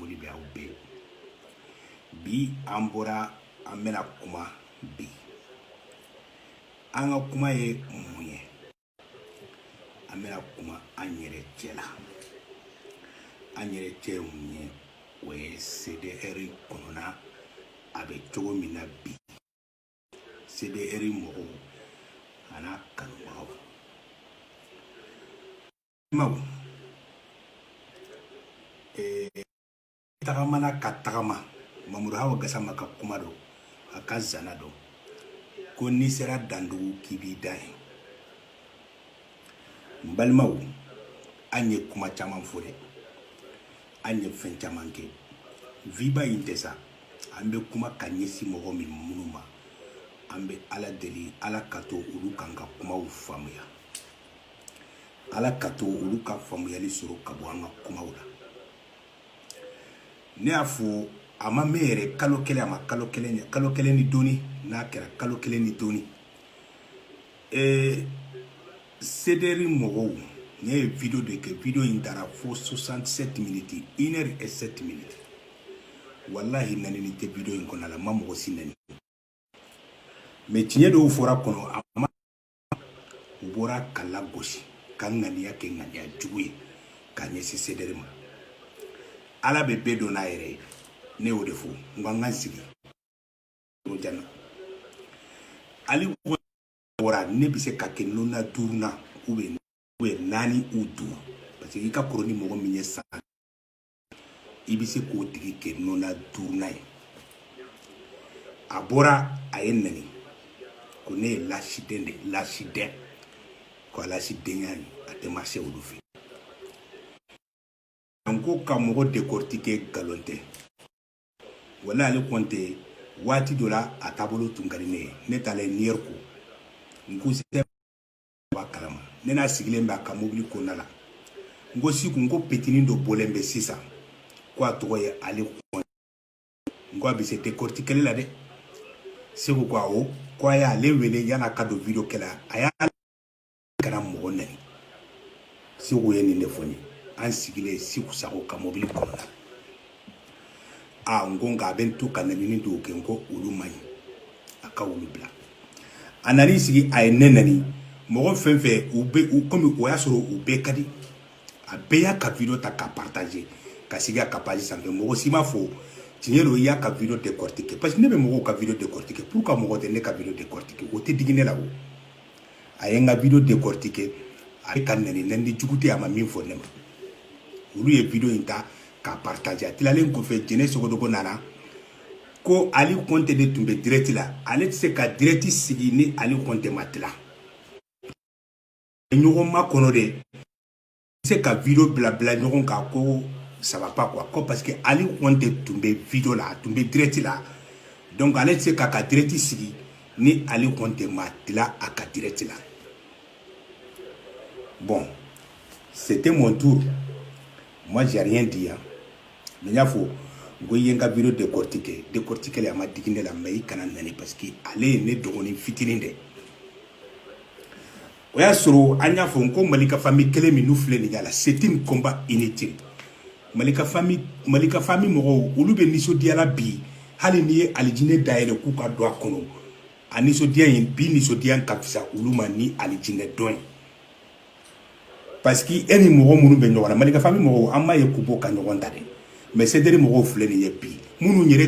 foli bɛ aw bɛɛ ye bi an bɔra an bɛna kuma bi an ka kuma ye mun ye an bɛna kuma an yɛrɛ cɛ la an yɛrɛ cɛ ye mun ye o ye cdr kɔnɔna a bɛ cogo min na bi cdr mɔgɔw an'a kanubagaw Maw ee tagamana ka tagama Mamadou Hawa Gassama ka kuma don a ka zana don ko n'i sera dandugu k'i b'i dan yen n balimaw an ye kuma caman fɔ dɛ an ye fɛn caman kɛ viba in tɛ sa an bɛ kuma ka ɲɛsin mɔgɔ min minnu ma an bɛ ala deli ala ka to olu k'an ka kumaw faamuya ala ka to olu ka faamuyali sɔrɔ ka bɔ an ka kumaw la ne y'a fɔ a ma mɛn yɛrɛ kalo kelen a ma kalo kelen ɲɛ kalo kelen ni dɔɔni n'a kɛra kalo kelen ni dɔɔni ee cdr mɔgɔw ne ye video de kɛ video in taara fo 67 minutes une heure et 7 minutes walahi nanini tɛ video in kɔnɔ la n ma mɔgɔ si nani mais tiɲɛ dɔw fɔra kɔnɔ a ma u bɔra k'a lagosi ka ŋaniya kɛ ŋaniya jugu ye ka ɲɛsin cdr ma ala bɛ bɛɛ dɔn n'a yɛrɛ ye ne y'o de fɔ n ko an ka sigi jana ali bɔra ne bɛ se ka kɛ nɔna duurunan ou bien ou bien naani ou duuru parce que i ka kɔrɔ ni mɔgɔ min ye san i bɛ se k'o tigi kɛ nɔna duurunan ye a bɔra a ye nani ko ne ye lasiden de lasiden ko lasidenya ye a tɛ marché olu fɛ an ko ka mɔgɔ décortiquer nkalon tɛ wala ale kɔnte waati dɔ la a taabolo tun ka di ne ye ne taalen New York n ko b'a kalama ne n'a sigilen bɛ a ka mobili kɔnɔna la n ko Siku n ko petinin dɔ bɔlen bɛ sisan ko a tɔgɔ ye ale kɔnte n ko a bɛ se dekɔritikeli la dɛ Siku ko awɔ ko a y'ale wele yan'a ka don video kɛ la a y'a kana mɔgɔ nani Siku ye nin de fɔ n ye an sigilen Siku sago ka mobili kɔnɔna la a n ko nka a bɛ n to ka nanini dɔw kɛ n ko olu man ɲi a ka olu bila a nan'i sigi a ye ne nani mɔgɔ fɛn fɛn u bɛ u komi o y'a sɔrɔ u bɛɛ ka di a bɛɛ y'a ka video ta ka partager ka sigi a ka page sanfɛ mɔgɔ si m'a fɔ tiɲɛ don i y'a ka video décortiquer parce que ne bɛ mɔgɔw ka video décortiquer pourquoi mɔgɔ tɛ ne ka video décortiquer o tɛ digi ne la o a ye n ka video décortiquer a bɛ ka nani nani jugu tɛ a ma min fɔ ne ma olu ye video in ta ka partager a tilalen kɔfɛ jɛnɛ sogodogo nana ko ali kɔnte de tun bɛ direct la ale tɛ se ka direct sigi ni ali kɔnte ma tila ɲɔgɔn makɔnɔ tɛ se ka video bila bila ɲɔgɔn kan ko ça va pas quoi ko parce que ali kɔnte tun bɛ video la a tun bɛ direct la donc ale tɛ se k'a ka direct sigi ni ali kɔnte ma tila a ka direct la bon c'était mon tour moi j'ai rien dit hein n y'a fɔ n ko i ye n ka video décortiquer décortiquer a ma digi ne la mais i kana nani parce que ale ye ne dɔgɔnin fitinin de o y'a sɔrɔ an y'a fɔ n ko malika famille kɛlɛ min n'u filɛ nin ye là c'est un combat inutile malika famille malika famille mɔgɔw olu bɛ nisɔndiya la bi hali n'i ye alijinɛ dayɛlɛ k'u ka don a kɔnɔ a nisɔndiya in bi nisɔndiya ka fisa olu ma ni alijinɛ don ye parce que e ni mɔgɔ minnu bɛ ɲɔgɔn na malika famille mɔgɔw an m'a ye k'u bɔ ka ɲɔgɔn ta dɛ mais cdr mɔgɔw filɛ nin ye bi minnu yɛrɛ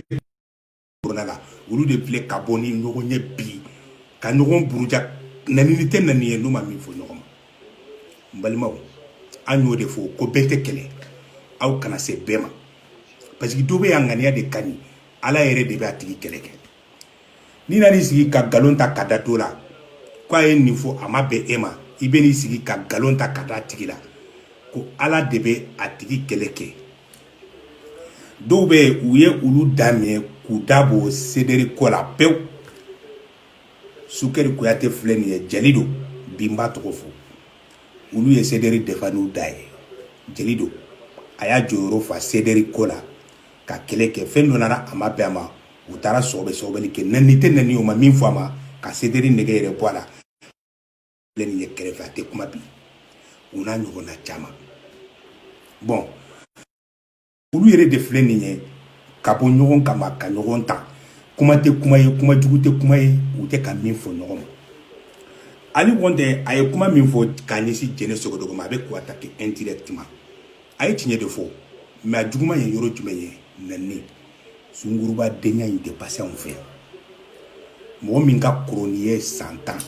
kɔnɔna la olu de filɛ ka bɔ ni ɲɔgɔn ye bi ka ɲɔgɔn buruja nanini tɛ nani ye n'u ma min fɔ ɲɔgɔn ma n balimaw an y'o de fɔ ko bɛɛ tɛ kɛlɛ aw kana se bɛɛ ma parce que dɔ bɛ yan ŋaniya de ka ɲi ala yɛrɛ de bɛ a tigi kɛlɛ kɛ n'i nan'i sigi ka nkalon ta ka da dɔ la k'a ye nin fɔ a ma bɛn e ma i bɛ n'i sigi ka nkalon ta ka d'a tigi la ko ala de bɛ a tigi kɛlɛ kɛ dɔw bɛ yen u ye olu da minɛ k'u da bɔ cdr ko la pewu sukɛri kuyate filɛ nin ye jeli don bi n b'a tɔgɔ fɔ olu ye cdr défendre n'u da ye jeli don a y'a jɔyɔrɔ fa cdr ko la ka kɛlɛ kɛ fɛn dɔ nana a ma bɛn a ma u taara sɔgɔbɛ sɔgɔbɛli kɛ nɛni tɛ nɛni u ma min fɔ a ma ka cdr nɛgɛ yɛrɛ bɔ a la filɛ nin ye kɛrɛfɛ a tɛ kuma bi u n'a ɲɔgɔnna caman bon olu yɛrɛ de filɛ nin ye ka bɔ ɲɔgɔn kama ka ɲɔgɔn ta kuma tɛ kuma ye kuma jugu tɛ kuma ye u tɛ ka min fɔ ɲɔgɔn ma ali kɔntɛ a ye kuma min fɔ k'a ɲɛsin jɛnɛ sogodogo ma a bɛ k'o attaquer indirectement a ye tiɲɛ de fɔ mais a juguman ye yɔrɔ jumɛn ye nɛni sunguruba denya in tɛ passer anw fɛ mɔgɔ min ka kɔrɔ n'i ye san tan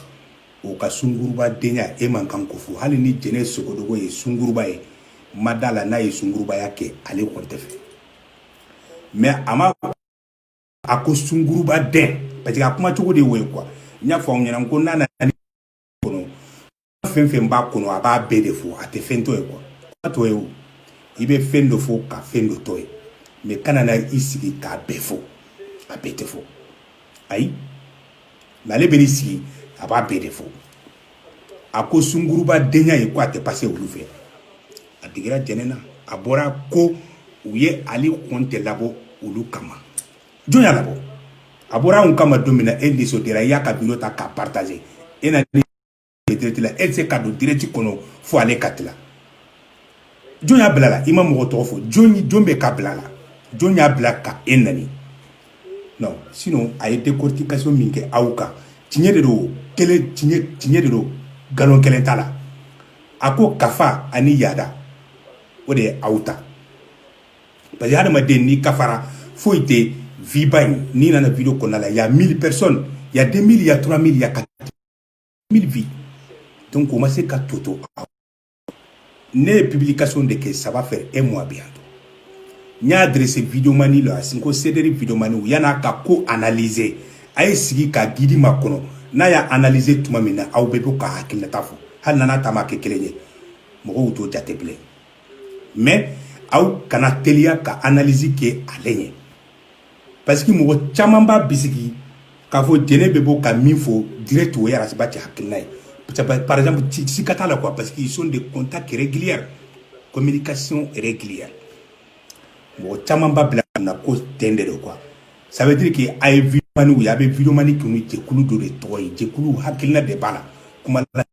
o ka sunguruba denya e man kan k'o fɔ hali ni jɛnɛ sogodogo ye sunguruba ye ma d'a la n'a ye sungurubaya kɛ ali kɔnte fɛ mais a ma a ko sunguruba den parce que a kuma cogo de ye o ye quoi n y'a fɔ aw ɲɛna ko n'a nana kɔnɔ fɛn fɛn b'a kɔnɔ a b'a bɛɛ de fɔ a tɛ fɛn to yen quoi a to yen o i bɛ fɛn dɔ fɔ ka fɛn dɔ to yen mais kana na i sigi k'a bɛɛ fɔ a bɛɛ tɛ fɔ ayi mais ale bɛ n'i sigi a b'a bɛɛ de fɔ a ko sunguruba denya ye ko a tɛ passer olu fɛ a digira jɛnɛ na a bɔra ko u ye ale kɔntɛ labɔ olu kama jɔn y'a labɔ a bɔra anw kama don min na e nisɔndiyara i y'a ka video ta k'a partager e na direct la e tɛ se ka don direct kɔnɔ fo ale ka tila jɔn y'a bila la i ma mɔgɔ tɔgɔ fɔ jɔn bɛ k'a bila la jɔn y'a bila ka e nani non sinon a ye décortication min kɛ aw kan tiɲɛ de don tiɲɛ de don nkalon kelen t'a la a ko kafa ani yaada o de ye aw ta parce que hadamaden n'i kafara foyi tɛ vue ba in n'i nana video kɔnɔna la y a 1000 personnes y a 2000 y a 3000 y a 4000 vues donc o ma se ka toto ne ye publication de kɛ ça va faire 1 mois bientôt n y'a adresser videomani la sanko CDR videomaniw yann'a ka ko analyser a ye sigi ka guide makɔnɔ n'a y'a analyser tuma min na aw bɛɛ bɛ ka hakilinata fɔ hali n'a n'a ta ma kɛ kelen ye mɔgɔw t'o jate bilen mais aw kana teliya ka analyse kɛ ale ɲɛ parce que mɔgɔ caman b'a bisigi k'a fɔ jɛnɛ bɛ bɔ ka min fɔ direct o ye ras bath hakilina ye par exemple sika t'a la quoi parce qu'ils ont des contacts réguliers communication régulière mɔgɔ caman b'a bila na ko ten de don quoi ça veut dire que a ye videomaniw ye a bɛ videomani kɛ ni jɛkulu dɔ de tɔgɔ ye jɛkulu hakilina de b'a la kuma la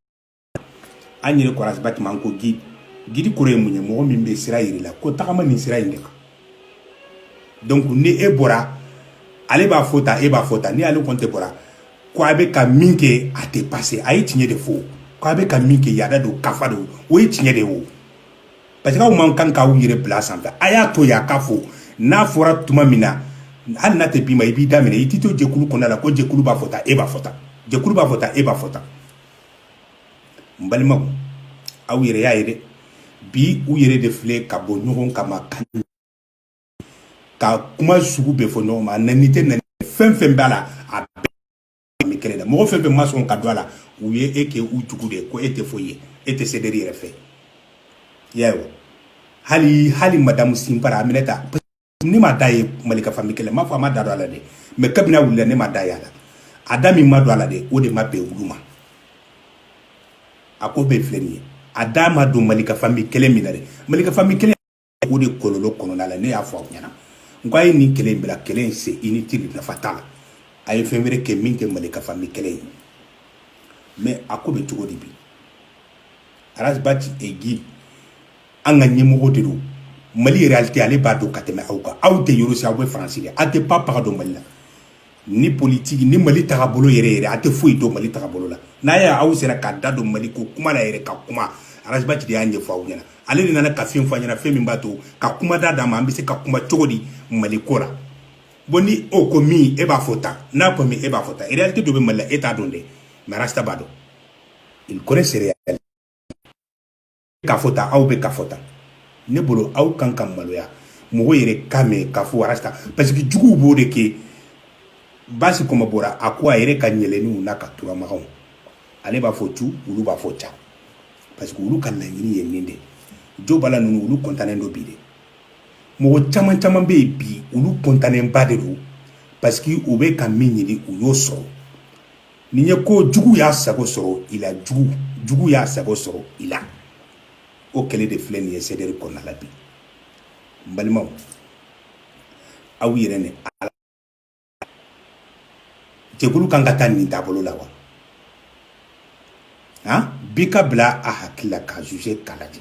an yɛrɛ ko ras bath ma ko guide kɔrɔ ye mun ye mɔgɔ min bɛ sira jir'i la ko tagama nin sira in de kan donc ni e bɔra ale b'a fɔ tan e b'a fɔ tan ni ale kɔntɛ bɔra ko a bɛ ka min kɛ a tɛ passer a ye tiɲɛ de fɔ k' a bɛ ka min kɛ yaada don kafa don o ye tiɲɛ de ye o parce que aw man kan k'aw yɛrɛ bila sanfɛ a y'a to yen a k'a fɔ n'a fɔra tuma min na hali n'a tɛ bɛn i ma i b'i da minɛ i t'i to jɛkulu kɔnɔna la ko jɛkulu b'a fɔ tan e b'a fɔ tan jɛkulu b'a fɔ tan e b'a fɔ tan n balimaw aw yɛrɛ y'a ye dɛ bi u yɛrɛ de filɛ ka bɔ ɲɔgɔn kama ka kuma sugu bɛɛ fɔ ɲɔgɔn ma a nani tɛ nani fɛn fɛn b'a la a bɛɛ bɛ kɛlɛ la mɔgɔ fɛn fɛn ma sɔn ka don a la u ye e kɛ u jugu de ko e tɛ foyi ye e tɛ CDR yɛrɛ fɛ y'a ye wa hali hali madamu sinpara aminata ne ma da ye malika famille kɛlɛ m'a fɔ a ma da don a la dɛ mais kabini a wulila ne ma da ye a la a da min ma don a la dɛ o de ma bɛn olu ma a ko bɛɛ filɛ nin ye a da ma don malika famille kɛlɛ min na dɛ malika famille kɛlɛ o de kɔlɔlɔ kɔnɔna la ne y'a fɔ aw ɲɛna n ko a ye nin kɛlɛ in bila kɛlɛ in c'est inutile nafa t'a la a ye fɛn wɛrɛ kɛ min tɛ malika famille kɛlɛ in mais a ko bɛ cogo di bi arasibati egi an ka ɲɛmɔgɔ de don mali réalité ale b'a dɔn ka tɛmɛ aw kan aw tɛ yɔrɔ si aw bɛ faransi de aw tɛ pa paga dɔn mali la ni politique ni mali tagabolo yɛrɛ yɛrɛ a tɛ foyi dɔn mali tagabolo la n'a y' aw sera k'a da don mali ko kuma la yɛrɛ ka kuma arasibati de y'a ɲɛfɔ aw ɲɛna ale de nana ka fɛn fɔ ɲɛna fɛn min b'a to ka kuma da d'a ma an bɛ se ka kuma cogo di mali ko la bon ni o ko min e b'a fɔ tan n'a ko min e b'a fɔ tan réalité dɔ bɛ mali la e t'a dɔn dɛ mais arasita b'a dɔn il connaît ces réalités k'a fɔ tan aw bɛ k'a fɔ tan ne bolo aw kan ka maloya mɔgɔ yɛrɛ k'a mɛn k'a fɔ arasta parce que juguw b'o de kɛ basi kɔma bɔra a ko a yɛrɛ ka ɲɛlɛninw n'a ka turamagaw ale b'a fɔ tu olu b'a fɔ ca parce que olu ka laɲini ye nin de jo bala ninnu olu kɔntannen don bi de mɔgɔ caman caman bɛ yen bi olu kɔntannenba de don parce que u bɛ ka min ɲini u y'o sɔrɔ nin ye ko jugu y'a sago sɔrɔ i la jugu y'a sago sɔrɔ i la o kɛlɛ de filɛ nin ye sederi kɔnɔna la bi n balimaw aw yɛrɛ ni ala jɛkulu kan ka taa nin taabolo la wa han bi ka bila a hakili la k'a juger k'a lajɛ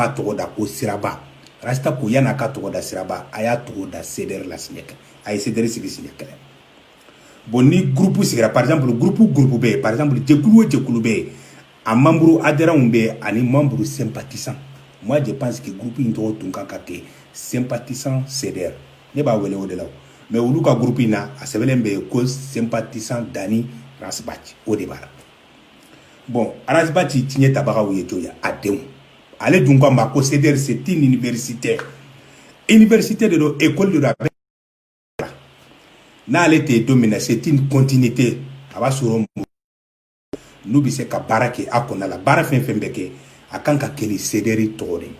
b'a tɔgɔ da ko siraba rasta ko yann'a ka tɔgɔ da siraba a y'a tɔgɔ da sedɛri la siɲɛ kelen a ye sedɛri sigi siɲɛ kelen bon ni gurupu sigira par exemple gurupu gurupu bɛ yen par exemple jɛkulu o jɛkulu bɛ yen a membre adhérentw bɛ yen ani membre sympathisant moi je pense que gurupu in tɔgɔ tun kan ka kɛ sympathisant sedɛri ne b'a wele o de la mais olu ka gurupu in na a sɛbɛnlen bɛ yen ko sympathisant dani ras bath o de b'a la bon arasibati tiɲɛtabagaw ye tɔw ye a denw ale dun ko a ma ko cdr c'est une université université de don école de don a bɛ n'ale tɛ don min na c'est une continuité a b'a sɔrɔ n'u bɛ se ka baara kɛ a kɔnɔna la baara fɛn fɛn bɛ kɛ a kan ka kɛ ni cdr tɔgɔ de ye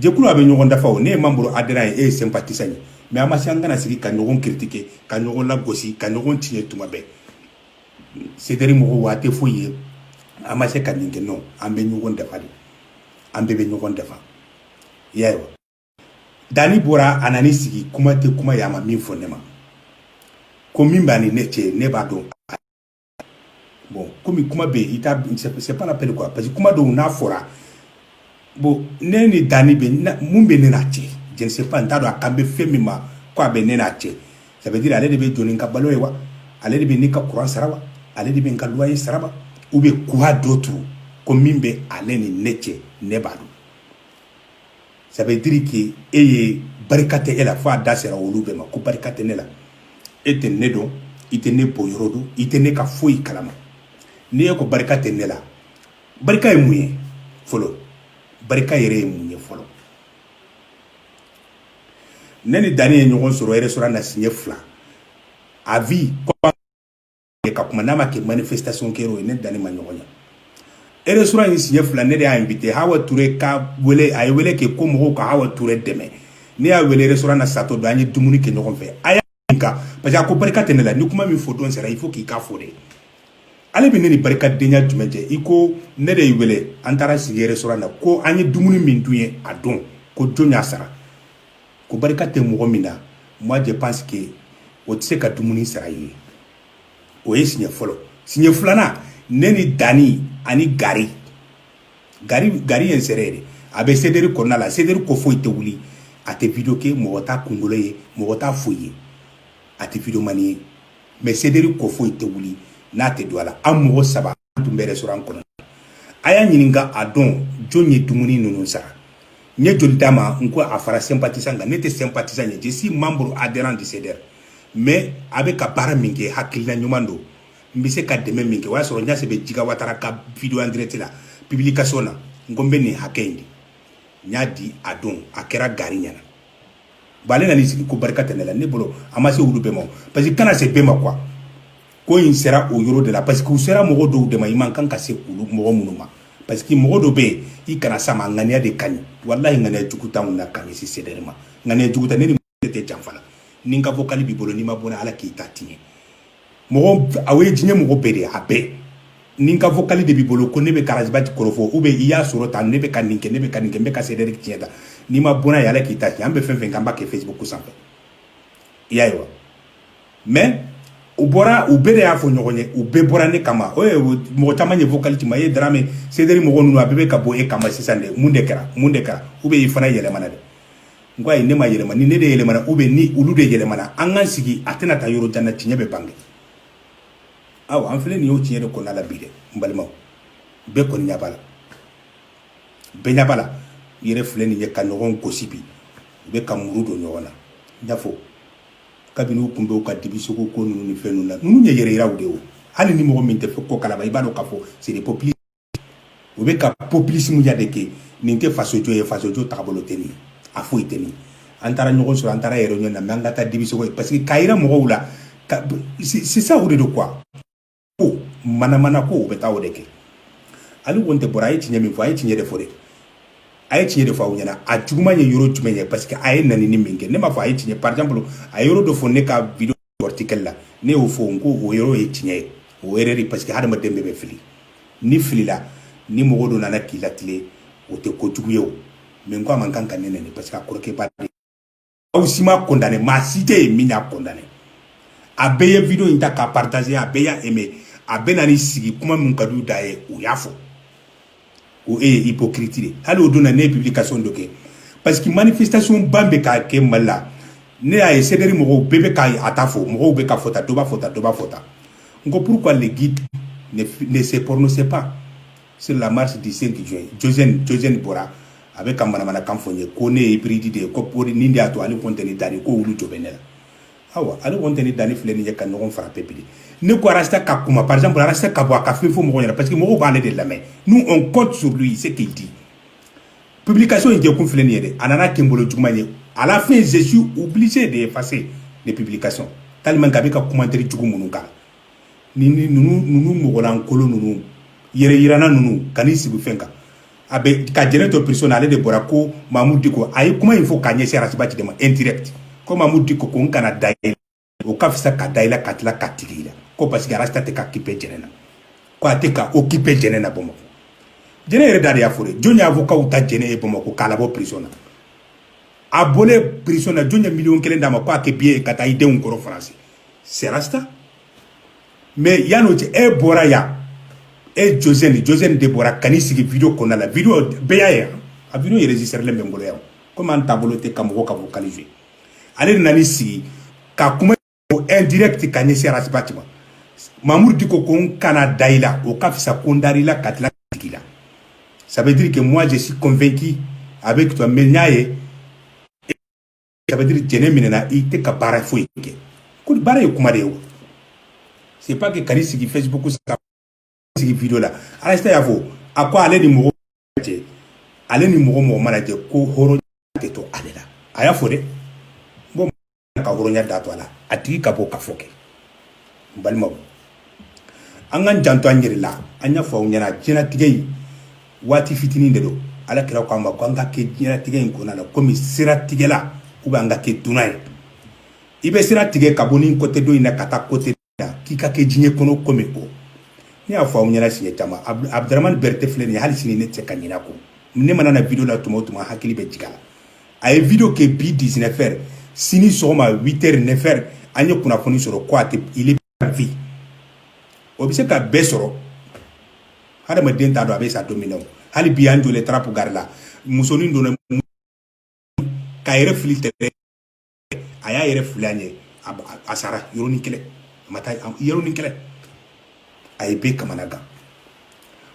jɛkulu a bɛ ɲɔgɔn dafa o ne ye membre adhérent ye e ye sympathisant ye mais an ma se an kana sigi ka ɲɔgɔn critiquer ka ɲɔgɔn lagosi ka ɲɔgɔn tiɲɛ tuma bɛɛ sederi mɔgɔ waa tɛ foyi ye an ma se ka nin kɛ non an bɛ ɲɔgɔn dafa de an bɛɛ bɛ ɲɔgɔn dafa y'a ye wa dani bɔra a nan'i sigi kuma tɛ kuma ye a ma min fɔ ne ma ko min b'a ni ne cɛ ne b'a dɔn bon komi kuma bɛ yen i t'a dɔn c'est c'est pas la peine quoi parce que kuma dɔw n'a fɔra bon ne ni Dani bɛ na mun bɛ ne n'a cɛ je ne sais pas n t'a dɔn a kan bɛ fɛn min ma ko a bɛ ne n'a cɛ ça veut dire ale de bɛ jɔ ni n ka balo ye wa ale de bɛ ne ka courant sara wa ale de bɛ n ka loyer sara wa ou bien quoi d'autre ko min bɛ ale ni ne cɛ ne b'a dɔn ça veut dire que e ye barika tɛ e la fo a da sera olu bɛɛ ma ko barika tɛ ne la e tɛ ne dɔn i tɛ ne bɔyɔrɔ dɔn i tɛ ne ka foyi kalama n'i ye ko barika tɛ ne la barika ye mun ye fɔlɔ barika yɛrɛ ye mun ye fɔlɔ ne ni Dani ye ɲɔgɔn sɔrɔ restaurant na siɲɛ fila à vie ka kuma n'a ma kɛ manifestation kɛyɔrɔ ye ne ni Dani ma ɲɔgɔn ye restaurant in siɲɛ fila ne de y'a invité Hawa Ture ka wele a ye wele kɛ ko mɔgɔw ka Hawa Ture dɛmɛ ne y'a wele restaurant na sato don an ye dumuni kɛ ɲɔgɔn fɛ a y'a ɲininka parce que a ko barika tɛ ne la ni kuma min fɔ don sera il faut k'i k'a fɔ dɛ ale bɛ ne ni barikadenya jumɛn cɛ i ko ne de y'i wele an taara sigi restaurant na ko an ye dumuni min dun ye a don ko jɔn y'a sara ko barika tɛ mɔgɔ min na moi je pense que o tɛ se ka dumuni sara i ye o ye siɲɛ fɔlɔ siɲɛ filanan ne ni Dani ani Gari Gari Gari ye n seere de a bɛ CDR kɔnɔna la CDR ko foyi tɛ wuli a tɛ video kɛ mɔgɔ t'a kunkolo ye mɔgɔ t'a foyi ye a tɛ videoman ye mais CDR ko foyi tɛ wuli n'a tɛ don a la an mɔgɔ saba an tun bɛ restaurant kɔnɔ a y'a ɲininka a don jɔn ye dumuni ninnu sara n ye joli d'a ma n ko a fara sympathisant kan ne tɛ sympathisant ye je suis membre adhérent du CDR mais a bɛ ka baara min kɛ hakilina ɲuman don n bɛ se ka dɛmɛ min kɛ o y'a sɔrɔ Ɲase bɛ Jiga Watara ka video en direct la publication na n ko n bɛ nin hakɛ in di n y'a di a don a kɛra Gari ɲɛna bon ale nan'i sigi ko barika tɛ ne la ne bolo a ma se olu bɛɛ ma parce que kana se bɛɛ ma quoi ko in sera o yɔrɔ de la parce que u sera mɔgɔ dɔw de ma i man kan ka se olu mɔgɔ minnu ma parce que mɔgɔ dɔ bɛ yen i kana s'a ma ŋaniya de ka ɲi walahi ŋaniya jugu t'anw na ka ɲɛsin CDR ma ŋaniya jugu ta ne ni mɔgɔ tɛ janfa la ni n ka vocal b'i bolo n'i ma bɔ n'a ye Ala k'i ta tiɲɛ mɔgɔ aw ye diɲɛ mɔgɔ bɛɛ de ye a bɛɛ ni n ka vocal de b'i bolo ko ne bɛ ka Ras Bath kɔrɔfɔ ou bien i y'a sɔrɔ tan ne bɛ ka nin kɛ ne bɛ ka nin kɛ n bɛ ka CDR tiɲɛ tan n'i ma bɔ n'a ye Ala k'i ta tiɲɛ an bɛ fɛn fɛn kɛ an b'a kɛ facebook sanfɛ i y'a ye wa mais u bɔra u bɛɛ de y'a fɔ ɲɔgɔn ye u bɛɛ bɔra ne kama o ye mɔgɔ caman ye vocal ci n ma ye Darame CDR mɔgɔ ninnu a bɛɛ bɛ ka bɔ e kama sisan de mun de kɛra mun de kɛra ou bien i fana yɛlɛmana dɛ n ko ayi ne ma yɛlɛma ni ne de yɛlɛmana ou bien ni olu de yɛlɛmana an k'an sigi a tɛna taa yɔrɔ jan na tiɲɛ bɛ bange awa an filɛ nin y'o tiɲɛ de kɔnɔna la bi dɛ n balimaw bɛɛ kɔni ɲɛ b'a la bɛɛ ɲɛ b'a la yɛrɛ filɛ nin ye ka ɲɔgɔn gosi bi u bɛ ka muru don ɲɔgɔn na n y'a fɔ kabini u tun bɛ u ka dibisogo ko ninnu ni fɛn ninnu na ninnu ye yɛrɛyiraw de ye o hali ni mɔgɔ min tɛ o ko kalama i b'a dɔn k'a fɔ c'est des populistes u bɛ ka populismeya de kɛ nin tɛ fasojɔ ye fasojɔ tagabolo tɛ nin ye a foyi tɛ nin an taara ɲɔgɔn sɔrɔ an taara yɛrɛ ɲɔgɔn na mɛ an ka taa dibisogo ye parce que k'a jira mɔgɔw la c'est ça o de don quoi ko manamanako u bɛ taa o de kɛ Ali Kɔntɛ bɔra a ye tiɲɛ min fɔ a ye tiɲɛ de fɔ de a ye tiɲɛ de fɔ aw ɲɛna a juguman ye yɔrɔ jumɛn ye parce que a ye nɛnini min kɛ ne m'a fɔ a ye tiɲɛ par exemple a ye yɔrɔ dɔ fɔ ne ka video article la ne y'o fɔ n ko o yɔrɔ ye tiɲɛ ye o erreur ye parce que hadamaden bɛɛ bɛ fili n'i filila ni mɔgɔ dɔ nana k'i latile o tɛ ko jugu ye o mais n ko a man kan ka ne nɛni parce que a kɔrɔkɛ b'a aw si ma condamné maa si tɛ yen min y'a condamné a bɛɛ ye video in ta k'a partager a bɛɛ y'a aimé a bɛ na n'i sigi kuma min ka d'u da ye u y'a fɔ ko e ye hypocrite de hali o don na ne ye publication dɔ kɛ parce que manifestation ba bɛ ka kɛ mali la ne y'a ye CDR mɔgɔw bɛɛ bɛ ka a ta fɔ mɔgɔw bɛ k'a fɔ tan dɔ b'a fɔ tan dɔ b'a fɔ tan n ko pourquoi le guide ne, ne se prononce pas sur la marche du 5 juin josɛni josɛni bɔra a bɛ ka manamanakan fɔ n ye ko ne ye hybride de ye ko pori nin de y'a to Ali Kɔntɛ ni Dani ko wulu jɔ bɛ ne la awa Ali Kɔntɛ ni Dani filɛ nin ye ka ɲɔgɔn fara pepe de ne ko arasta ka kuma par exemple arasta ka bɔ a ka fɛn fɔ mɔgɔw ɲɛna parce que mɔgɔw b'ale de lamɛn nous on compte sur lui c'est qu'il dit publication in kɛkun filɛ nin ye dɛ a nana kɛ n bolo juguman ye à la fin je suis obligé d'effacer les publications tellement que a bɛ ka commentaire jugu minnu k'a la ni ninnu mɔgɔlankolon ninnu yɛrɛyiranna ninnu ka n'i sigi fɛn kan a bɛ ka jɛnɛ to prison na ale de bɔra ko Mamudu Diko a ye kuma in fɔ k'a ɲɛsin Arasibati de ma indirect ko Mamudu Diko ko n kana da i la o ka fisa ka da i la ka tila ka tigɛ i la ko parce que Arasta tɛ ka occupé jɛnɛ na ko a tɛ ka occupé jɛnɛ na Bamakɔ jɛnɛ yɛrɛ da de y'a fɔ dɛ jɔn ye avocat ta jɛnɛ ye Bamakɔ k'a labɔ prison na a bɔlen prison na jɔn ye miliyɔn kelen d'a ma ko a kɛ billet ye ka taa i denw kɔrɔ France c'est Rasta mais yan'o cɛ e bɔra yan e josɛni josɛni de bɔra ka n'i sigi video kɔnɔna la video bɛɛ y'a ye a video enregistrélen bɛ n bolo yan komi an taabolo tɛ ka mɔgɔ ka vocal fiyɛ ale de nan'i sigi ka kuma o indirect ka ɲɛsin arasibati ma mamudu diko ko n kana da i la o ka fisa ko n dar'i la ka tila ka tigɛ i la ça veut dire que moi je suis convaincu avec toi mais n y'a ye ça veut dire jɛnɛ minɛna i tɛ ka baara foyi kɛ ko baara ye kuma de ye wa c'est pas que ka n'i sigi facebook ka sigi video la Arasta y'a fɔ a ko ale ni mɔgɔ cɛ ale ni mɔgɔ mɔgɔ mana jɛ ko hɔrɔnya tɛ to ale la a y'a fɔ dɛ bon ka hɔrɔnya da to a la a tigi ka bɔ ka fɔ kɛ n balimaw an k'an janto an yɛrɛ la an y'a fɔ aw ɲɛna diɲɛlatigɛ in waati fitinin de don ala kira k'an ma ko an ka kɛ diɲɛlatigɛ in kɔnɔna na komi siratigɛla u bɛ an ka kɛ dunan ye i bɛ sira tigɛ ka bɔ ni kɔtɛ dɔ in na ka taa kɔtɛ la k'i ka kɛ diɲɛ kɔnɔ komi o ne y'a fɔ aw ɲɛna siɲɛ caman abudramani bɛrɛtɛ filɛ nin ye hali sini ne tɛ se ka ɲinɛ a kɔ ne mana na video la tuma o tuma hakili bɛ jigin a la a ye video kɛ bi 19 heures sini sɔgɔma 8 heures 9 heures an ye kunnafoni sɔrɔ ko a tɛ vie o bɛ se ka bɛɛ sɔrɔ hadamaden t'a dɔn a bɛ sa don min na o hali bi an jɔlen trappes gare la musonin donna k'a yɛrɛ fili tɛrɛn a y'a yɛrɛ fili a ɲɛ a sara yɔrɔnin kelen a ma taa yɔrɔnin kelen a ye bɛɛ kamana gan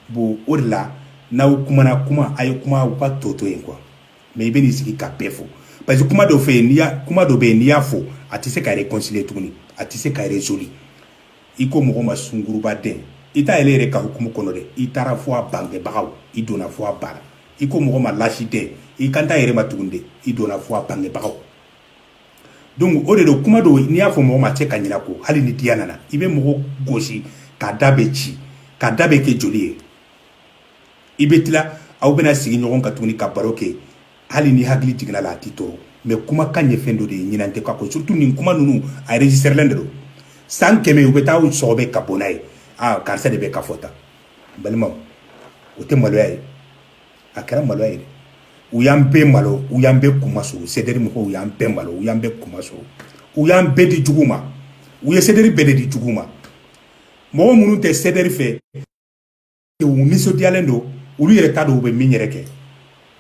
bon o de la n'aw kumana kuma a ye kuma aw ka tɔ to yen quoi mais i bɛ n'i sigi ka bɛɛ fɔ parce que kuma dɔ fɛ n'i y'a kuma dɔ bɛ yen n'i y'a fɔ a tɛ se ka réconcilier tuguni a tɛ se ka résoudre i ko mɔgɔ ma sungurunba den i t'a yɛrɛ yɛrɛ ka hukumu kɔnɔ dɛ i taara fo a bangebagaw i donna fo a bara i ko mɔgɔ ma lasi den i kan t'a yɛrɛ ma tuguni dɛ i donna fo a bangebagaw donc o de don kuma dɔw n'i y'a fɔ mɔgɔ ma a tɛ se ka ɲina a kɔ hali ni diya nana i bɛ mɔgɔ gosi k'a da bɛɛ ci k'a da bɛɛ kɛ joli ye i bɛ tila aw bɛna sigi ɲɔgɔn kan tuguni ka baro kɛ hali ni hakili jiginna a la a t'i tɔɔrɔ mais kumakan ye fɛn dɔ de ye ɲinan tɛ k'a kɔ surtout nin kuma ninnu a enregistrelen de don san kɛmɛ u bɛ taa u sɔgɔbɛ ka bɔ n'a ye aa karisa de bɛ ka fɔ tan balimaw o tɛ maloya ye a kɛra maloya ye dɛ u y'an bɛɛ malo u y'an bɛɛ kunmasuli sederi mɔgɔw u y'an bɛɛ malo u y'an bɛɛ kunmasuli u y'an bɛɛ di jugu ma u ye sederi bɛɛ de di jugu ma mɔgɔ minnu tɛ sederi fɛ u nisɔndiyalen don olu yɛrɛ t'a dɔn u bɛ min yɛrɛ kɛ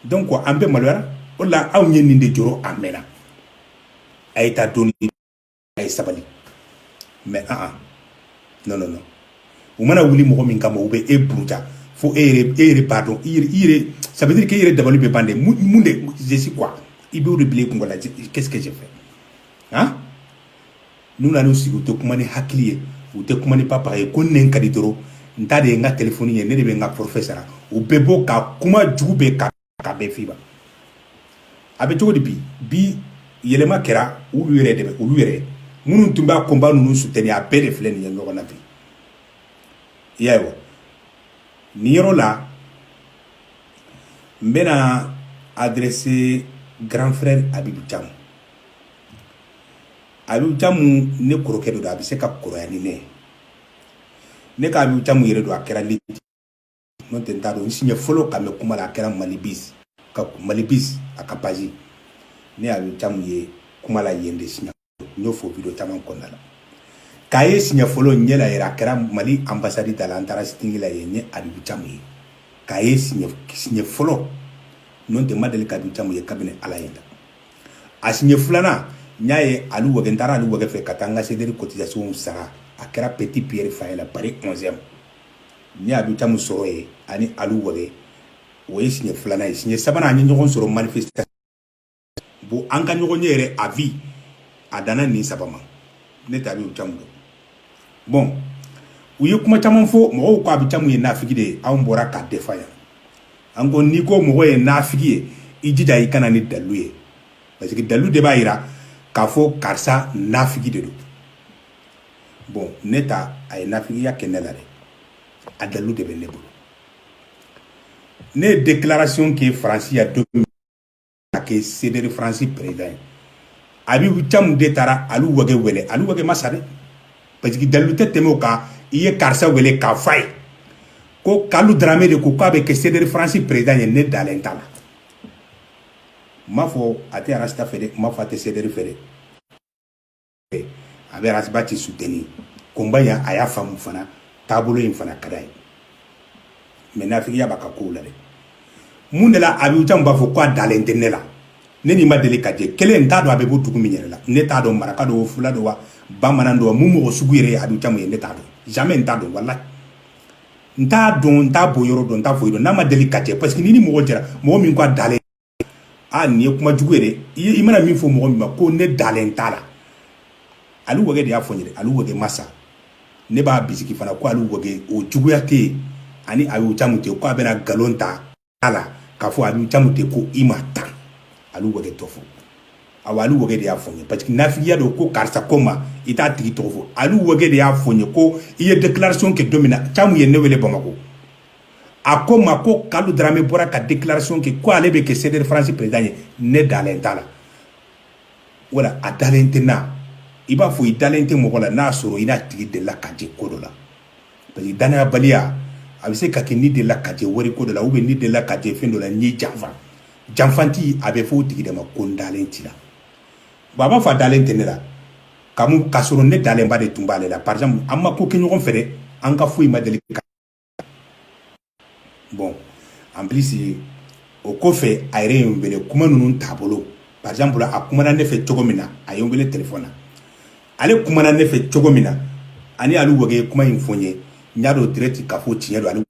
donc an bɛɛ maloyara o la anw ye nin de jɔrɔ a mɛnna a ye taa dɔɔni a ye sabali mais non non u mana wuli mɔgɔ min kama u bɛ e buruja fo e e yɛrɛ b'a dɔn ça veut dire que i yɛrɛ dabali bɛ ban dɛ mun je suis quoi i b'o de bila i kungolo la qu'est-ce que j'ai fait n'u nan'u sigi u tɛ kuma ni hakili ye u tɛ kuma ni papa ye ko nin ka di dɔrɔn n ta de ye n ka telefɔni ye ne de bɛ n ka forfait sara u bɛ bɔ ka kuma jugu bɛɛ ka ka bɛɛ f'i ma a bɛ cogo di bi bi yɛlɛma kɛra olu yɛrɛ de bɛ olu yɛrɛ minnu tun b'a combat ninnu soutenir a bɛɛ de filɛ nin ye ɲɔgɔn na bi i y'a ye wa nin yɔrɔ la n bɛna adresser grand frère abibu camu abiyu camu ne kɔrɔkɛ don a bɛ se ka kɔrɔya ni ne ne ka abiyu camu yɛrɛ dɔn a kɛra ne n'o tɛ n t'a dɔn siɲɛ fɔlɔ k'a mɛn kuma la a kɛra mali bis ka mali bis a ka page ne ye abiyu camu ye kuma la yen de siɲɛ n y'o fɔ vidéo caman kɔnɔna la k'a ye siɲɛ fɔlɔ ɲɛ la yɛrɛ a kɛra mali anbasadi da la an taara sit-in la yen n ye abiyu camu ye k'a ye siɲɛ fɔlɔ n'o tɛ n ma deli ka abiyu camu ye kabini ala ye n da a siɲɛ filanan n y'a ye alu wage n taara alu wage fɛ ka taa n ka sederi cotisation sara a kɛra petit pierre foyer la pari 11 n ye abiyu camu sɔrɔ yen ani alu wage o ye siɲɛ filanan ye siɲɛ sabanan an ye ɲɔgɔn sɔrɔ manifestation bon an ka ɲɔgɔn ye yɛrɛ à vie a danna nin saba ma ne tɛ abiyu camu dɔn bon u ye kuma caman fɔ mɔgɔw ko abiyu camu ye nafigi de ye anw bɔra k'a défend yan an ko n'i ko mɔgɔ ye nafigi ye i jija i ka na ni dalu ye parce que dalu de b'a yira k'a fɔ karisa nafigi de don bon ne ta a ye nafigiya kɛ ne la dɛ a dalu de bɛ ne bolo ne ye déclaration kɛ faransi yan don ka kɛ sederi faransi peresidan ye abiyu camu de taara alu wage wele alu wage ma sa dɛ parce que dalilu tɛ tɛmɛ o kan i ye karisa wele k'a f'a ye ko kalu darame de ko k'a bɛ kɛ sederi faransi peresidan ye ne dalen t'a la n m'a fɔ a tɛ arasita fɛ dɛ n m'a fɔ a tɛ sederi fɛ dɛ a bɛ rasibati soutenu combat yan a y'a faamu fana taabolo in fana ka d'a ye mɛ nafigiya b'a ka ko la dɛ mun de la abiyu camu b'a fɔ k' a dalen tɛ ne la ne n'i ma deli ka jɛ kelen n t'a dɔn a bɛ bɔ dugu min yɛrɛ la ne t'a dɔn maraka don o fula don wa bamanan don mun mɔgɔ sugu yɛrɛ abiyu camu ye ne t'a dɔn jamais n t'a dɔn walayi n t'a dɔn n t'a bɔ yɔrɔ dɔn n t'a foyi dɔn n'a ma deli ka jɛ parce que n'i ni mɔgɔ jɛra mɔgɔ min k'a dalen aa nin ye kuma jugu ye dɛ i mana min fɔ mɔgɔ min ma ko ne dalen t'a la alu wage de y'a fɔ n ye alu wage ma sa ne b'a bisigi fana ko alu wage o juguya tɛ yen a ni abiyu camu cɛ k'a bɛna nkalon da a la k'a fɔ abiyu camu de ko i ma tan alu wage tɔgɔ fɔ awa alu wage de y'a fɔ n ye parce que nafigiya don ko karisa ko n ma i t'a tigi tɔgɔ fɔ alu wage de y'a fɔ n ye ko i ye déclaration kɛ don min na camu ye ne wele bamakɔ a ko n ma ko kalu darame bɔra ka déclaration kɛ ko ale bɛ kɛ CDR France président ye ne dalen t'a la wala a dalen tɛ n na i b'a fɔ i dalen tɛ mɔgɔ la n'a sɔrɔ i n'a tigi delila ka jɛ ko dɔ la parce que danayabaliya a bɛ se ka kɛ ni delila ka jɛ wari ko dɔ la ubiyɛn ni delila ka jɛ fɛn dɔ la n'i janfa janfanci a bɛ fɔ o tigi de ma ko n dalen t'i la bon a b'a fɔ a dalen tɛ ne la kamu k'a sɔrɔ ne dalenba de tun b'ale la par exemple an ma ko kɛ ɲɔgɔn fɛ dɛ an ka foyi ma deli ka bon en plus o kɔfɛ a yɛrɛ ye n wele kuma ninnu t'a bolo par exemple a kumana ne fɛ cogo min na a ye n wele téléphone na ale kumana ne fɛ cogo min na ani alu wage kuma in fɔ n ye n y'a dɔn direct k'a fɔ tiɲɛ don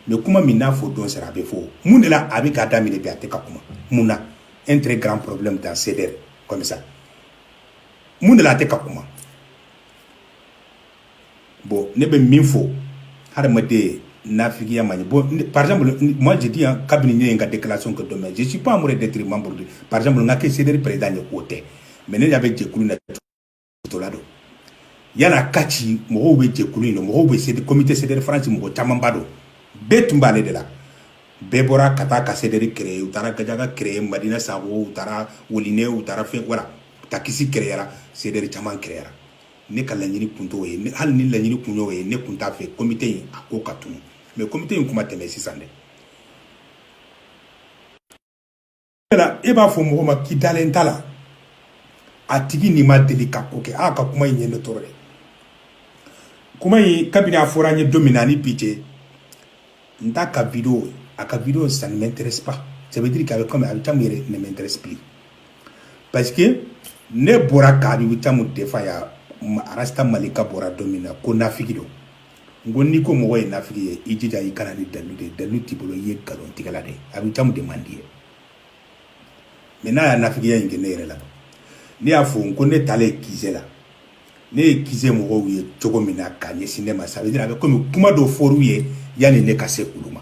mais kuma min n'a fɔ don sera a bɛ fɔ mun de la a bɛ k'a daminɛ bi a tɛ ka kuma mun na un très grand problème dans CDR comme ça mun de la a tɛ ka kuma bon ne bɛ min fɔ hadamaden nafigiya man ɲi bon par exemple moi je dis hein, kabini ne ye n ka déclaration kɛ don min je suis pas amoureux d'être membre de par exemple n ka kɛ CDR président ye k'o tɛ mais ne y'a bɛ jɛkulu na musola don yala ka ci mɔgɔw bɛ jɛkulu in na mɔgɔw bɛ sedi comité CDR France mɔgɔ camanba don bɛɛ tun b'ale de la bɛɛ bɔra ka taa ka CDR kereye u taara gajaga kereye madina sago u taara woline u taara fɛn voilà takisi kereyara CDR caman kereyara ne ka laɲini kun t'o ye hali ni laɲini kun y'o ye ne kun t'a fɛ comité in a ko ka tunu mais comité in kuma tɛ mɛn sisan dɛ la e b'a fɔ mɔgɔ ma k'i dalen t'a la a tigi n'i ma deli ka ko kɛ a ka kuma in ye ne tɔɔrɔ dɛ kuma in kabini a fɔra n ye don min na ani bi cɛ n t'a ka video a ka video ça ne m'intéresse pas ça veut dire k'a bɛ comme abe camu yɛrɛ ne m'intéresse plus parce que ne bɔra ka abe camu defa ya arasta malika bɔra don min na ko nafigi don n ko n'i ko mɔgɔ ye nafigi ye i jija i kana ni dalu de dalu t'i bolo i ye nkalon tigɛla de abe camu de man di ye mais n'a ye nafigiya in kɛ ne yɛrɛ la ne y'a fɔ n ko ne taalen QG la ne ye QG mɔgɔw ye cogo min na k'a ɲɛsin ne ma ça veut dire a bɛ komi kuma dɔ fɔr'u ye yanni ne ka se olu ma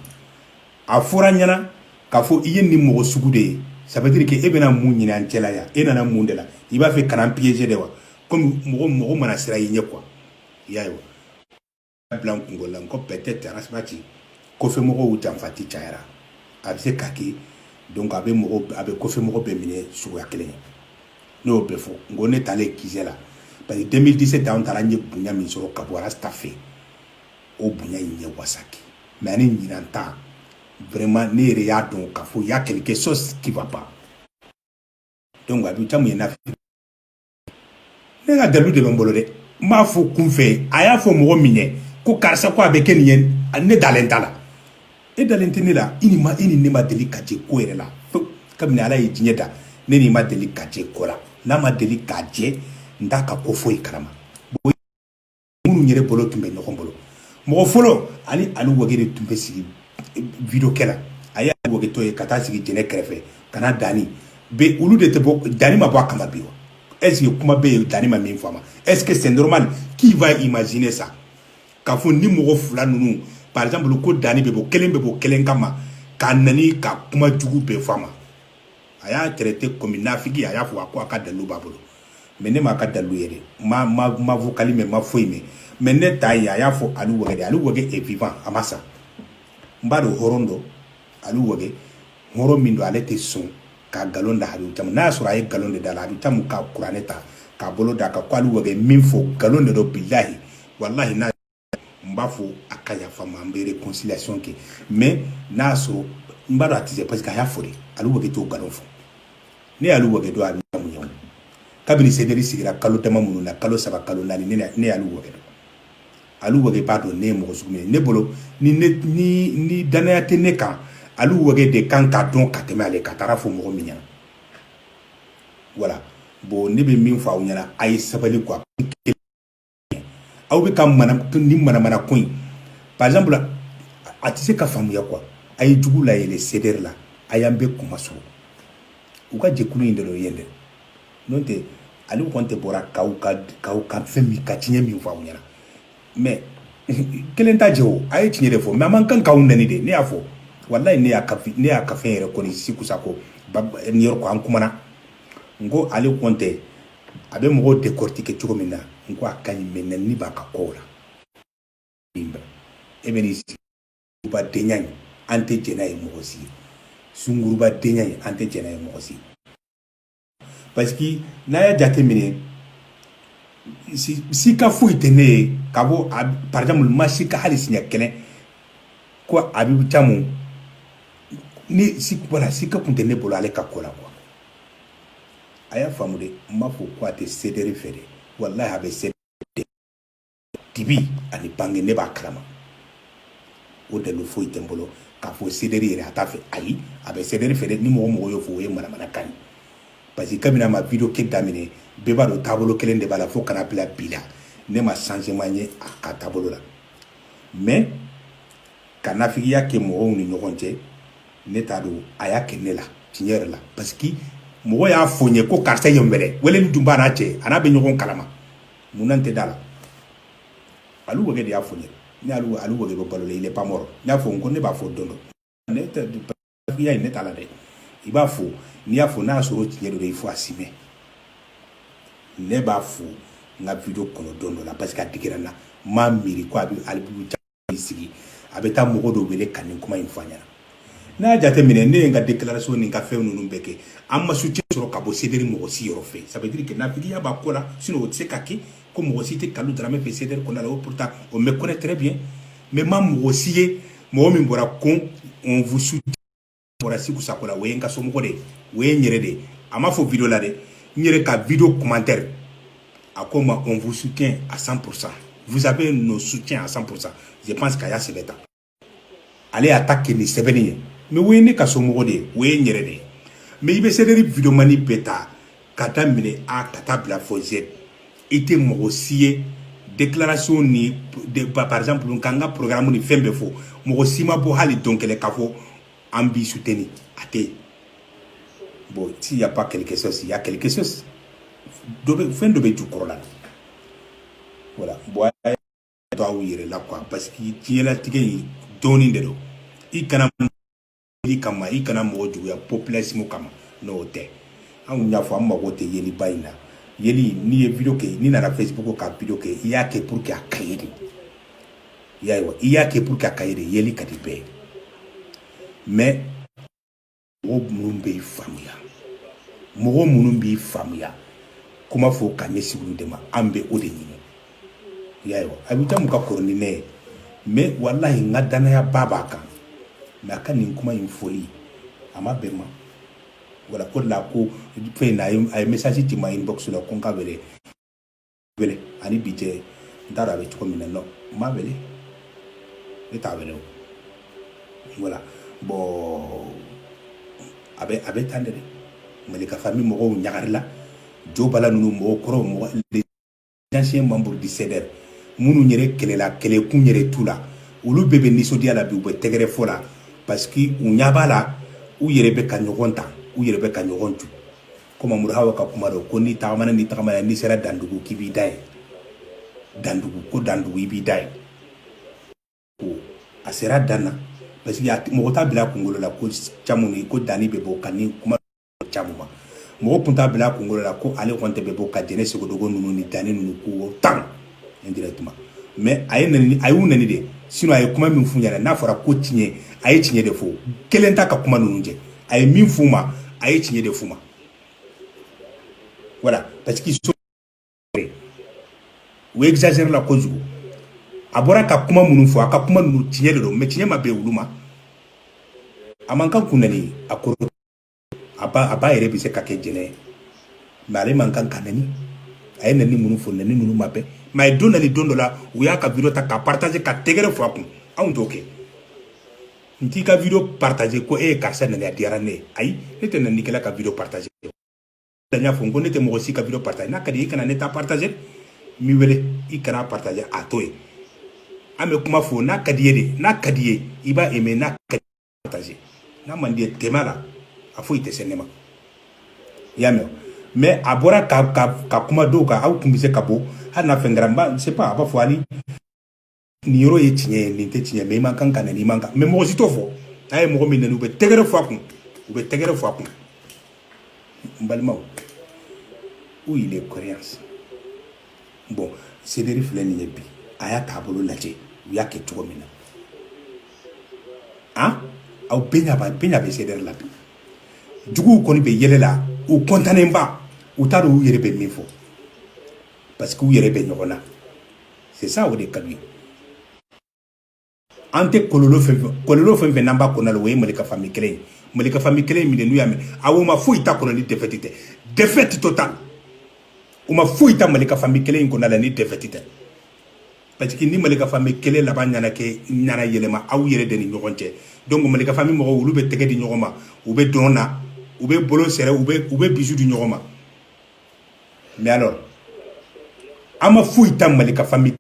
a fɔra n ɲɛna k'a fɔ i ye nin mɔgɔ sugu de ye ça veut dire que e bɛna mun ɲini an cɛla yan e nana mun de la i b'a fɛ ka na n piéger de wa komi mɔgɔ mɔgɔ mana siran i ɲɛ quoi i y'a ye wa bila n kungolo la n ko peut-être arasibati kɔfɛ mɔgɔw janfanci cayara a bɛ se ka kɛ donc a bɛ mɔgɔ a bɛ kɔfɛ mɔgɔ bɛɛ minɛ suguya kelen ne y'o bɛɛ fɔ n ko ne taalen QG la parce que 2017 an taara n ye bonya min sɔrɔ ka bɔ arasita fɛ o bonya in ye n wasa kɛ mais ani ɲinan ta vraiment ne yɛrɛ y'a dɔn k'a fɔ y'a quelque chose qui va pas donc a bɛ caman ye n'a ne ka dalu de bɛ n bolo dɛ n b'a fɔ kunfɛ a y'a fɔ mɔgɔ min ye ko karisa ko a bɛ kɛ nin ye ne dalen t'a la e dalen tɛ ne la i ni ma i ni ne ma deli ka jɛ ko yɛrɛ la pewu kabini ala ye diɲɛ da ne n'i ma deli ka jɛ ko la n'a ma deli ka jɛ n t'a ka ko foyi kalama minnu yɛrɛ bolo tun bɛ ɲɔgɔn bolo mɔgɔ fɔlɔ ani ali wage de tun bɛ sigi video kɛ la a ye ali wage to yen ka taa sigi jɛnɛ kɛrɛfɛ ka na dani bɛ olu de tɛ bɔ dani ma bɔ a kama bi wa est-ce que kuma bɛ yen dani ma min fɔ a ma est-ce que c'est normal qui va imaginer ça k'a fɔ ni mɔgɔ fila ninnu par exemple ko dani bɛ bɔ kelen bɛ bɔ kelen kama k'a nɛni ka kuma jugu bɛɛ fɔ a ma a y'a traité comme nafigi a y'a fɔ a ko a ka dalu b'a bolo mais ne m'a ka dalilu ye dɛ ma ma ma vocal mɛn ma foyi mɛn mais ne ta ye a y'a fɔ ali wage de ali wage est vivant a ma sa n b'a dɔn hɔrɔn don ali wage hɔrɔn min don ale tɛ sɔn ka galon da habibu camu n'a y'a sɔrɔ a ye galon de da la habibu camu ka kuranɛ ta k'a bolo da a kan ko ali wage min fɔ galon de don bilahi walahi n'a n b'a fɔ a ka yafa ma an bɛ réconciliation kɛ mais n'a y'a sɔrɔ n b'a dɔn a tɛ se parce que a y'a fɔ de ali wage t'o nkalon fɔ ne ye ali wage dɔn habibu camu ye kabini sederi sigira kalo dama minnu na kalo saba kalo naani ne ne ye ali wage dɔn ali wage b'a dɔn ne ye mɔgɔ sugu min ye ne bolo ni ne ni ni danaya tɛ ne kan ali wage de kan k'a dɔn ka tɛmɛ ale kan taara fɔ mɔgɔ min ɲɛna voilà bon ne bɛ min fɔ aw ɲɛna a ye sabali quoi aw bɛ ka nin manamana ko in par exemple a tɛ se ka faamuya quoi a ye jugu layɛlɛ sederi la a y'an bɛɛ kuma sɔrɔ u ka jɛkulu in dɔ ye dɛ n'o tɛ ale kɔni tɛ bɔra k'aw ka fɛn min ka tiɲɛ min fɔ aw ɲɛna mais kelen t'a jɛ o a ye tiɲɛ de fɔ mais a man kan k'aw nɛni de ne y'a fɔ walahi ne y'a ne y'a ka fɛn yɛrɛ kɔni si kusa ko nin yɔrɔ ko an kumana n ko ale kɔni tɛ a bɛ mɔgɔw décortiquer cogo min na n ko a ka ɲi mais nɛni b'a ka kow la e bɛ n'i sigi sunguruba denya in an tɛ jɛn n'a ye mɔgɔ si ye sunguruba denya in an tɛ jɛn n'a ye mɔgɔ si parce que n'a y'a jateminɛ sika foyi tɛ ne ye ka bɔ par exemple ma sika hali siɲɛ kelen ko habibu camu ni voilà sika kun tɛ ne bolo ale ka ko la quoi a y'a faamu de n m'a fɔ ko a tɛ sederi fɛ de walahi a bɛ sederi dibi ani bange ne b'a kalama o dalilu foyi tɛ n bolo k'a fɔ sederi yɛrɛ a t'a fɛ ayi a bɛ sederi fɛ de ni mɔgɔ mɔgɔ y'o fɔ o ye manamana kan ye parce que kabini a ma video kɛ daminɛ bɛɛ b'a dɔn taabolo kelen de b'a la fo ka na bila bi la ne ma changement ye a ka taabolo la mais ka nafigiya kɛ mɔgɔw ni ɲɔgɔn cɛ ne t'a dɔn a y'a kɛ ne la tiɲɛ yɛrɛ la parce que mɔgɔ y'a fɔ n ye ko karisa ye mɛrɛ weleli tun b'a n'a cɛ a n'a bɛ ɲɔgɔn kalama mun na n tɛ da a la ali wage de y'a fɔ n ye ne ali ali wage bɛ balo la il est pas mort n y'a fɔ n ko ne b'a fɔ don dɔ ne tɛ ya in ne t'a la dɛ i b'a fɔ n'i y'a fɔ n'a y'a sɔrɔ tiɲɛ don de il faut assumer ne b'a fo n ka video kɔnɔ don dɔ la parce que a digira n na n m'a miiri ko a bɛ Habibu Camu sigi a bɛ taa mɔgɔ dɔw wele ka nin kuma in fɔ a ɲɛna n'a y'a jateminɛ ne ye n ka déclaration ni n ka fɛn ninnu bɛɛ kɛ an ma soutien sɔrɔ ka bɔ CDR mɔgɔ si yɔrɔ fɛ ça veut dire que nafigiya b'a ko la sinon o tɛ se ka kɛ ko mɔgɔ si tɛ Kalu Darame fɛ CDR kɔnɔna la o pourtant on me connaît très bien mais n ma mɔgɔ si ye mɔgɔ min bɔra ko on vous soutient bɔra Siku Sako la o ye n ka somɔgɔ de ye o ye n yɛrɛ de ye a ma fɔ video la dɛ n yɛrɛ ka video commentaire a ko n ma on vous soutient à 100% vous avez nos soutiens à 100% je pense qu'a y'a sɛbɛn tan ale y'a ta kɛ ni sɛbɛnni ye mais o ye ne ka somɔgɔ de ye o ye n yɛrɛ de ye mais i bɛ CDR videomani bɛɛ ta k'a daminɛ a ka taa bila fo z i tɛ mɔgɔ si ye déclaration ni de, par exemple ka n ka programme ni fɛn bɛɛ fɔ mɔgɔ si ma bɔ hali don kelen k'a fɔ an b'i soutenir a tɛ yen bon s'il y a pas quelque chose il y a quelque chose dɔ bɛ fɛn dɔ b'a jukɔrɔla voilà bon to aw yɛrɛ la quoi parce que diɲɛlatigɛ in dɔɔnin de don i kana i kama i kana mɔgɔ juguya population kama n'o tɛ anw y'a fɔ an mago tɛ yeliba in na yeli n'i ye video kɛ n'i nana facebook ka video kɛ i y'a kɛ pour que a ka ye de i y'a ye wa i y'a kɛ pour que a ka ye de yeli ka di bɛɛ ye mais mɔgɔ minnu b'i faamuya mɔgɔ minnu b'i faamuya kuma fɔ ka ɲɛsin olu de ma an bɛ o de ɲini i y'a ye wa Habibu Camu ka kɔrɔ ni ne ye mais walahi n ka danayaba b'a kan mais a ka nin kuma in fɔli a ma bɛn n ma voilà o de la ko fɛn in na a ye message ci n ma inbox la ko n k'a wele wele ani bi cɛ n t'a dɔn a bɛ cogo min na non n m'a wele ne t'a wele o voilà bon a bɛ a bɛ tan de dɛ Malika famille mɔgɔw ɲagarila Jo Bala ninnu mɔgɔ kɔrɔw mɔgɔ les anciens membres du CDR minnu yɛrɛ kɛlɛla kɛlɛkun yɛrɛ t'u la olu bɛɛ bɛ nisɔndiya la bi u bɛ tɛgɛrɛ fɔ la parce que u ɲɛ b'a la u yɛrɛ bɛ ka ɲɔgɔn ta u yɛrɛ bɛ ka ɲɔgɔn ju comme Mamuru Hawa ka kuma don ko n'i tagamana n'i tagamana n'i sera dandugu k'i b'i dan ye dandugu ko dandugu i b'i dan ye ko a sera dan na parce que mɔgɔ t'a bila kunkolo la ko Camu ko Dani bɛ bɔ ka nin kuma Camu ma mɔgɔ tun t'a bila kunkolo la ko ale kɔni de bɛ bɔ ka Jɛnɛ Sogodogo ninnu ni Dani ninnu ko tan indirectement mais a ye nɛni a y'u nɛni de sinon a ye kuma min f'u ɲɛna n'a fɔra ko tiɲɛ a ye tiɲɛ de fɔ kelen t'a ka kuma ninnu jɛ a ye min f'u ma a ye tiɲɛ de f'u ma voilà parce qu'ils sont u exagérer la kojugu a bɔra ka kuma minnu fɔ a ka kuma ninnu tiɲɛ de don mais tiɲɛ ma bɛn olu ma a man kan k'u nɛni a kɔrɔ a ba a ba yɛrɛ bɛ se ka kɛ jɛnɛ ye mais ale man kan ka nɛni a ye nɛni minnu fɔ nɛni minnu ma bɛn mais a ye dɔ nani don dɔ la u y'a ka video ta ka partager ka tɛgɛrɛ fɔ a kun anw t'o kɛ n t'i ka video partager ko e ye karisa nɛni a diyara ne ye ayi ne tɛ nɛnikɛla ka video partager n y'a fɔ n ko ne tɛ mɔgɔ si ka video partager n'a ka di i kana ne ta partager n b'i wele i kana partager a to yen an bɛ kuma fo n'a ka d'i ye de n'a ka d'i ye i b'a aimer n'a ka di partager n'a man d'i ye tɛmɛ a la a foyi tɛ se ne ma i y'a mɛn mais a bɔra ka ka ka kuma dɔw kan aw tun bɛ se ka bɔ hali n'a fɛn kɛra n b'a je sais pas a b'a fɔ hali nin yɔrɔ ye tiɲɛ ye nin tɛ tiɲɛ mais i man kan ka nɛni i man kan mais mɔgɔ si t'o fɔ n'a ye mɔgɔ min nɛni u bɛ tɛgɛrɛ fɔ a kun u bɛ tɛgɛrɛ fɔ a kun n balimaw où il est cohérence bon sederi filɛ nin ye bi a y'a taabolo lajɛ u y'a kɛ cogo min na han aw bɛɛ bɛɛ ɲa bɛ sederi la bi juguw kɔni bɛ yɛlɛ la u kɔntannen ba u t'a dɔn u yɛrɛ bɛ min fɔ parce que u yɛrɛ bɛ ɲɔgɔn na c'est ça o de ka d'u ye an tɛ kɔlɔlɔ fɛn fɛn kɔlɔlɔ fɛn fɛn n'an b'a kɔnɔ la o ye malika famille kelen ye malika famille kelen in min n'u y'a mɛn a o ma foyi t'a kɔnɔ ni défaite tɛ défaite totale u ma foyi ta malika famille kelen in kɔnɔ la ni défaite tɛ parce que ni malika famille kelen laban ɲana kɛ ɲana yɛlɛma aw yɛrɛ de ni ɲɔgɔn cɛ donc malika famille mɔgɔw olu bɛ tɛgɛ di ɲɔgɔn ma u bɛ dɔn na u bɛ bolo serrer u bɛ u bɛ bisou di ɲɔgɔn ma mais alors an ma foyi ta malika famille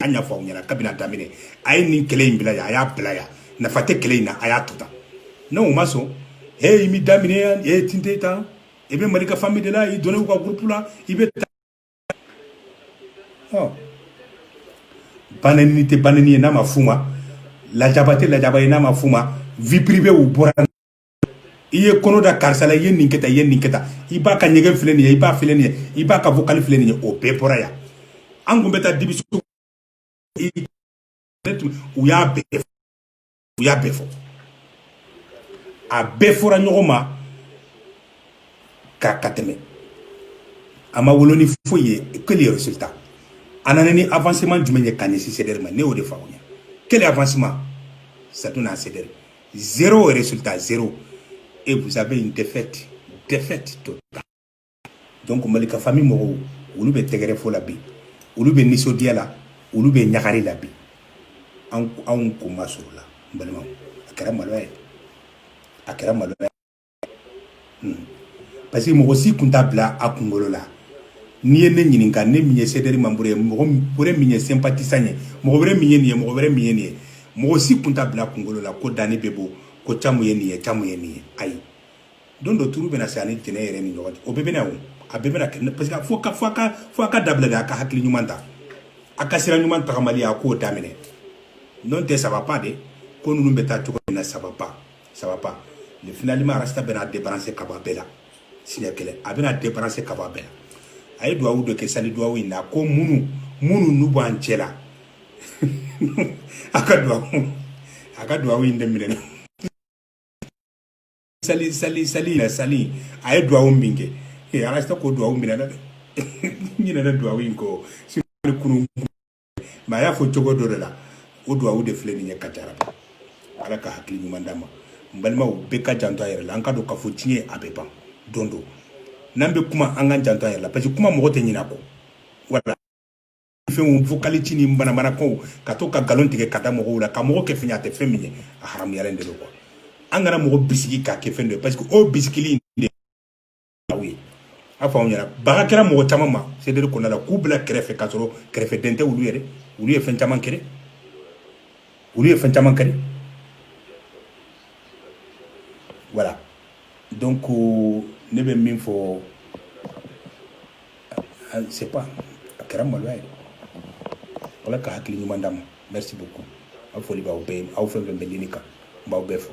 an y'a fɔ aw ɲɛna kabini a daminɛ a ye nin kɛlɛ in bila yan a y'a bila yan nafa tɛ kɛlɛ in na a y'a to tan non u ma sɔn he i m'i da minɛ yan e tinte tan i bɛ malika famille de la i donn'u ka groupe la i bɛ ɔ banɛni tɛ banɛni ye n'a ma f'u ma lajaba tɛ lajaba ye n'a ma f'u ma vie privée u bɔra i ye kɔnɔ da karisa la i ye nin kɛ tan i ye nin kɛ tan i b'a ka ɲɛgɛn filɛ nin ye i b'a filɛ nin ye i b'a ka vocal filɛ nin ye o bɛɛ bɔra yan an tun bɛ taa dibi u y'a bɛɛ u y'a bɛɛ fɔ a bɛɛ fɔra ɲɔgɔn ma k'a ka tɛmɛ a ma wolo ni foyi ye quel résultat a nana ni avancement jumɛn ye ka ɲɛsin sederi ma ne y'o de f'aw ye quel avancement satu n'a sɛ zéro résultat zéro et vous avez une défaite défaite totale donc malika famille mɔgɔw olu bɛ tɛgɛrɛ fɔ la bi olu bɛ nisɔndiya la olu bɛ ɲagari la bi anw kunmasuurula n balimaw a kɛra maloya ye a kɛra maloya Parce que mɔgɔ si tun t'a bila a kunkolo la n'i ye ne ɲininka ne min ye sederi membre ye mɔgɔ min ye sympathisant ye mɔgɔ wɛrɛ min ye nin ye mɔgɔ wɛrɛ min ye nin ye mɔgɔ si tun t'a bila kunkolo la ko danni bɛ bɔ ko caman ye nin ye caman ye nin ye ayi don dɔ tuuru bɛna se ani tɛnɛ yɛrɛ ni ɲɔgɔn o bɛɛ bɛna a bɛ parce que fo ka fo k'a dabila de a ka hakili ɲuman ta a ka sira ɲuman tagama a k'o daminɛ n'o tɛ ça va pas dɛ ko ninnu bɛ taa cogo min na ça va pas ça va pas le finalement rasta bɛna débarrasser ka bɔ a bɛɛ la siɲɛ kelen a bɛna débarrasser ka bɔ a bɛɛ la a ye duwawu dɔ kɛ sali duwawu in na ko minnu minnu n'u b'an cɛ la a ka duwawu a ka duwawu in de minɛ sali sali sali yɛrɛ sali a ye duwawu min kɛ ee rasta ko duwawu minɛ na dɛ ɲinɛna duwawu in kɔ kunu mais a y'a fɔ cogo dɔ de la o duwawu de filɛ nin ye ka jara ala ka hakili ɲuman d'a ma n balimaw bɛɛ ka janto a yɛrɛ la an k'a dɔn k'a fɔ diɲɛ a bɛ ban don dɔ n'an bɛ kuma an ka janto a yɛrɛ la parce que kuma mɔgɔ tɛ ɲinɛ a kɔ wala fɛnw vocal ci ni manamanakanw ka to ka nkalon tigɛ k'a da mɔgɔw la ka mɔgɔ kɛ fɛn ye a tɛ fɛn min ye a haramuyalen de don quoi an kana mɔgɔ bisigi k'a kɛ fɛn dɔ ye parce que o bisigili in de aw ye a fɔ anw ɲɛna baga kɛra mɔgɔ caman ma sederi kɔnɔna la k'u bila kɛrɛfɛ k'a sɔrɔ kɛrɛfɛ den tɛ olu yɛrɛ olu ye fɛn caman kɛ olu ye fɛn caman kɛ voilà donc euh, ne bɛ min fɔ ah, c'est pas a kɛra maloya ye ala ka hakili ɲuman d'a ma merci beaucoup a foli b'aw bɛɛ aw fɛn fɛn bɛ lini kan n b'aw bɛɛ fo